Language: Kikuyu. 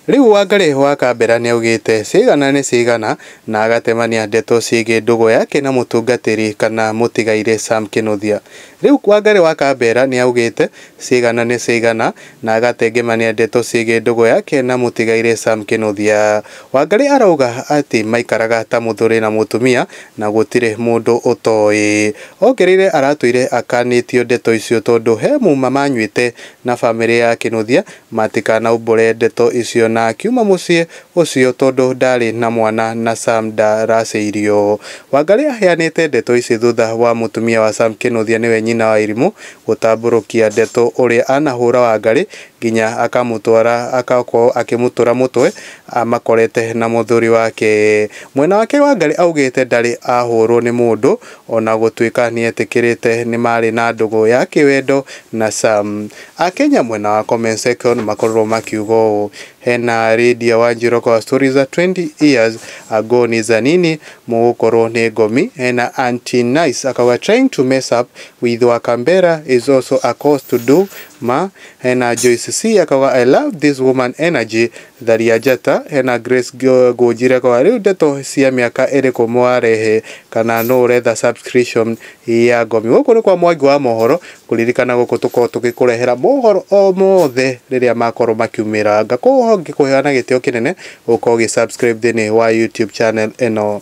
Rĩu Wangarĩhũ wa Kambera nĩaugĩte cigana nĩ cigana na agatemania ndeto ciĩgiĩ ndũgũ yake na mũtungatĩri kana mũtigairĩ Sam Kĩnuthia. Rĩu Wangarĩ wa Kambera nĩaugĩte cigana nĩ cigana na agatengemania ndeto ciĩgiĩ ndũgũ yake na mũtigairĩ Sam Kĩnuthia. Wangarĩ arauga atĩ maikaraga ta mũthuri na mũtumia na gũtirĩ mũndũ ũtoĩ. Ongereire aratũire akanĩtio ndeto icio tondũ he muma manyuĩte na bamĩrĩ ya Kĩnuthia Matikanaumbũre ndeto icio na akiuma mũciĩ ũcio tondũ ndaarĩ na mwana na Sam ndaracĩirio. Wangarĩ aheanĩte ndeto ici thutha wa mũtumia wa Sam Kĩnũthia nĩwe nyina wa Irimũ gũtambũrũkia ndeto ũrĩa anahũra Wangarĩ nginya akamũtwara agakorwo akĩmũtũra mũtwe amakorete na mũthuri wake. Mwena wake Wangarĩ augĩte ndarĩ ahũrwo nĩ mũndũ O na gũtuĩka nĩ eetĩkĩrĩte nĩ maarĩ na ndũgũ ya kĩwendo na Sam, Akenya mwena wa comment section nĩ makorirwo makiuga ũũ, Hena Lydia Wanjiru kwa story za 20 years ago ni za nini, mũgũkorwo nĩ ngomi. Hena Auntie Nice akauga trying to mess up with Wakambera is also a cause to do ma. Hena Joyce C akauga I love this woman energy Tharia Njata ena Grace Ngũnjire kwa rĩu ndeto cia mĩaka ĩrĩkũ mwarehe kana nũ ũretha subscription ya Ngomi. Gũkũ nĩ kwa Mwangi wa Mohoro, kũririkana gũkũ tũkoragwo tũgĩkũrehera mohoro o mothe rĩrĩa makorwo makiumĩranga. Koguo ngĩkũhoya na gĩtĩo kĩnene ũkorwo ũgĩ subscribe thĩinĩ wa YouTube channel ĩno.